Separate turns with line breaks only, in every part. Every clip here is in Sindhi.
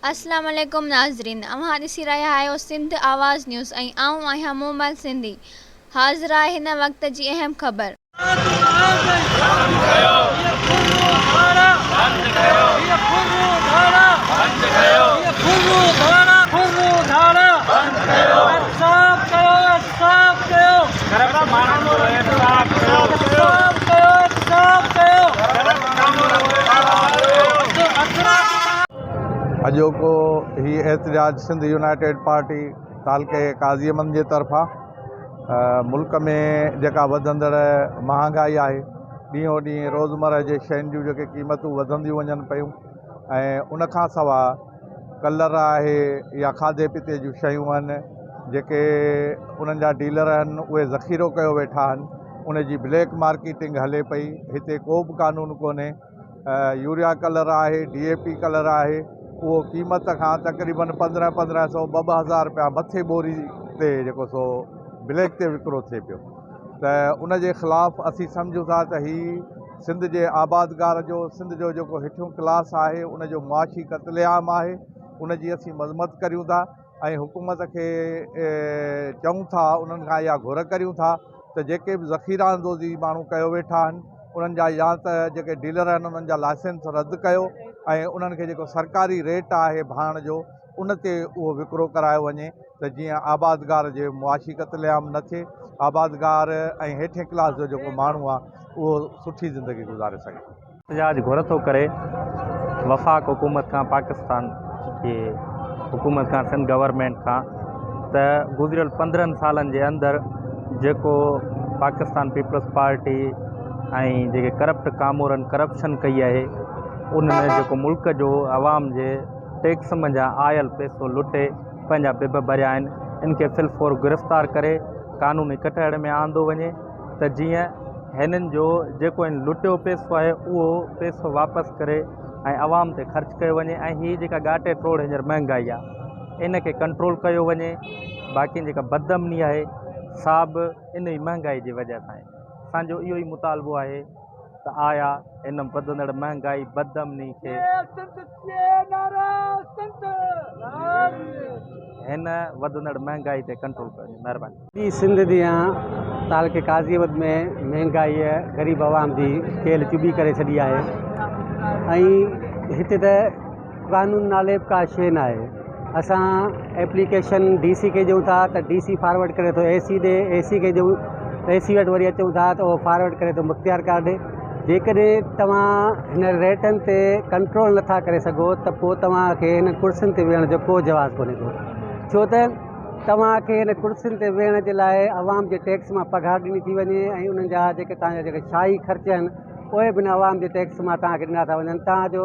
السلام عليڪم ناظرين اوهان ڏسي رهيا آهيو سنڌ آواز نيوز ۽ آئون آهيان مومل سنڌي حاضر آهي هن وقت جي اهم خبر.
صاف ڪيو گهربل ماڻهن جو احتساب ڪيو صاف ڪيو صاف ڪيو گهربل ماڻهن جو احتساب ڪيو اڄوڪو هي احتجاج سنڌ يونائيٽيڊ پارٽي تعلقي قاضي مند جي طرفان ملڪ ۾ جيڪا وڌندڙ مهانگائي آهي ڏينهون ڏينهن روزمره جي شين جون جيڪي قيمتون وڌنديون وڃن پيون ۽ ان کان سواء ڪلر آهي يا کاڌي پيتي جون شيون آهن جيڪي انهن جا ڊيلر آهن اهي ذخيرو ڪيو ويٺا آهن ان جي بليڪ مارڪيٽنگ هلي پئي هتي ڪو بھ قانون ڪونهي يوريا ڪلر آهي ڊي اي پي ڪلر آهي اهو قيمت کان تقريبن پندرهن پندرهن سو ٻه ٻه هزار رپيا مٿي ٻوري تي جيڪو سو بليڪ تي وڪرو ٿئي پيو ته ان جي خلاف اسين سمجھون ٿا ته هي سنڌ جي آبادگار جو سنڌ جو جيڪو هيٺيون ڪلاس آهي ان جو معاشي قتل عام آهي ان جي اسين مذمت ڪريون ٿا ۽ حڪومت کي چئون ٿا انهن کان اها گهر ڪريون ٿا ته جيڪي به ذخيره اندوزي ماڻهو ڪيو ويٺا آهن انهن جا يا ته جيڪي ڊيلر آهن انهن جا لائسنس رد ڪيو ۽ انهن کي جيڪو سرڪاري ريٽ آهي ڀاڻ جو ان تي اهو وڪرو ڪرايو وڃي ته جيئن آبادگار جي معاشي قتل عام نه ٿئي آبادگار ۽ هيٺين ڪلاس جو جيڪو ماڻهو آهي اهو سٺي زندگي گذاري سگهي. احتجاج گهر ٿو
ڪري وفاق حڪومت کان پاڪستان جي حڪومت کان سنڌ گورنمينٽ کان ته گذريل پندرهن سالن جي اندر جيڪو پاڪستان پيپلز پارٽي ۽ جيڪي ڪرپٽ ڪامورن ڪرپشن ڪئي آهي ان ۾ جيڪو ملڪ جو عوام جي ٽيڪس منجهان آيل پئسو لٽي پنهنجا بب ڀريا آهن ان کي في الفور گرفتار ڪري قانوني ڪٽهڙي ۾ آندو وڃي ته جيئن هنن جو جيڪو هن لٽيو پئسو آهي اهو پئسو واپس ڪري ۽ عوام تي خرچ ڪيو وڃي ۽ هي جيڪا ڳاٽي ٽوڙ هينئر مهنگائي آهي ان کي ڪنٽرول ڪيو وڃي باقي جيڪا بد امني آهي سا به ان ئي مهنگائي جي وجهه سان آهي اسان جو اهو ئي مطالبو آهي ته آيا هن وڌندڙ مهنگائي بد امني کي هن وڌندڙ مهانگائي تي ڪنٽرول ڪيو وڃي مهرباني. ٻي سنڌ جيان
تعلقي قاضي آبد ۾ مهانگائي غريب عوام جي ڪيل چٻي ڪري ڇڏي آهي ۽ هتي ته قانون نالي به ڪا شيء ناهي. اسان ايپليڪيشن ڊي سي کي ڏيون ٿا ته ڊي سي فارورڊ ڪري ٿو اي سي ڏي اي سي کي ڏيون اي سي وٽ وري اچون ٿا ته اهو فارورڊ ڪري ٿو مختيار ڪار ڏي جيڪڏهن توهان هن ريٽن تي ڪنٽرول نٿا ڪري سگهو ته پوء توهان کي هن ڪرسين تي ويهڻ جو ڪو جواز ڪونهي ڪو ڇو ته توهان کي هن ڪرسين تي ويهڻ جي لاء عوام جي ٽيڪس مان پگهار ڏني ٿي وڃي ۽ انهن جا جيڪي توهان جا جيڪي شاهي خرچ آهن اهي به عوام جي ٽيڪس مان توهان کي ڏنا ٿا وڃن توهان جو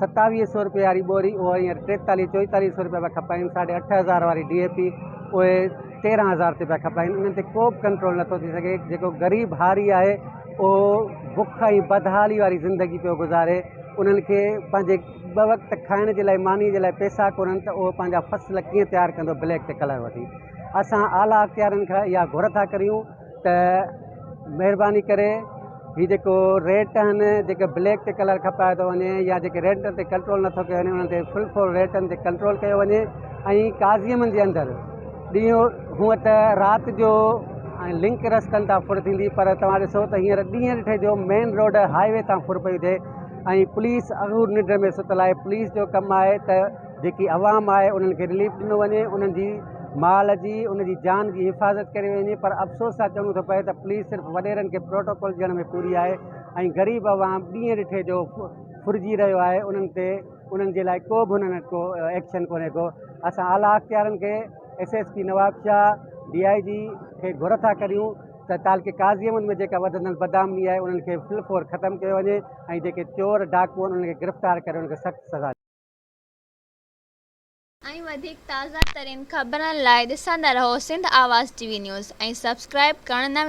ستاويهه سئو رپيي واري ٻوري اهو هينئر ٽيتاليهه چوئيتاليهه سئو رپيا پيا کپائين، ساڍي اٺ هزار واري ڊي اي پي اهي تيرهن هزار تي پيا کپائين، انهن تي ڪو به ڪنٽرول نٿو ٿي سگهي، جيڪو غريب هاري آهي اهو بک ۽ بدحالي واري زندگي پيو گذاري، انهن کي پنهنجي ٻه وقت کائڻ جي لاء ماني جي لاء پئسا ڪونهن ته اهو پنهنجا فصل ڪيئن تيار ڪندو بليڪ تي ڪلر وٺي، اسان اعليٰ اختيارين کان اها گهر ٿا ڪريون. ته مهرباني ڪري هي جيڪو ريٽ آهن جيڪي بليڪ تي ڪلر کپائي ٿو وڃي يا جيڪي ريٽ تي ڪنٽرول نٿو ڪيو وڃي انهن تي فل فور ريٽن تي ڪنٽرول ڪيو وڃي ۽ قاضيم جي اندر ڏينهن هونء ته رات جو ۽ لنڪ رستن تان ڦر ٿيندي پر توهان ڏسو ته هينئر ڏينهن ڏٺي جو مين روڊ هاء وي تان ڦر پئي ٿئي ۽ پوليس اهو ننڊ ۾ ستل آهي پوليس جو ڪم آهي ته جيڪي عوام آهي انهن کي رليف ڏنو وڃي انهن جي مال جي ان جي جان جي حفاظت ڪري وڃي پر افسوس سان چوڻو ٿو پئي ته پوليس صرف وڏيرن کي پروٽوڪول ڏيڻ ۾ پوري آهي ۽ غريب عوام ڏينهن ڏٺي جو ڦرجي رهيو آهي انهن تي انهن جي لاء ڪو به انهن وٽ ڪو ايڪشن ڪونهي ڪو اسان اعليٰ اختيارن کي S S P Nawab Shah D I G کي گهر ٿا ڪريون ته تعلقي قاضي احمد ۾ جيڪا وڌندل بدامني آهي انهن کي فل فور ختم ڪيو وڃي ۽ جيڪي چور ڊاڪو آهن انهن کي گرفتار ڪري انهن کي سخت سزا ۽
وڌيڪ تازه ترين خبرن لاء ڏسندا رهو Sindh Awaz T V news ۽ subscribe ڪرڻ نه وساريو.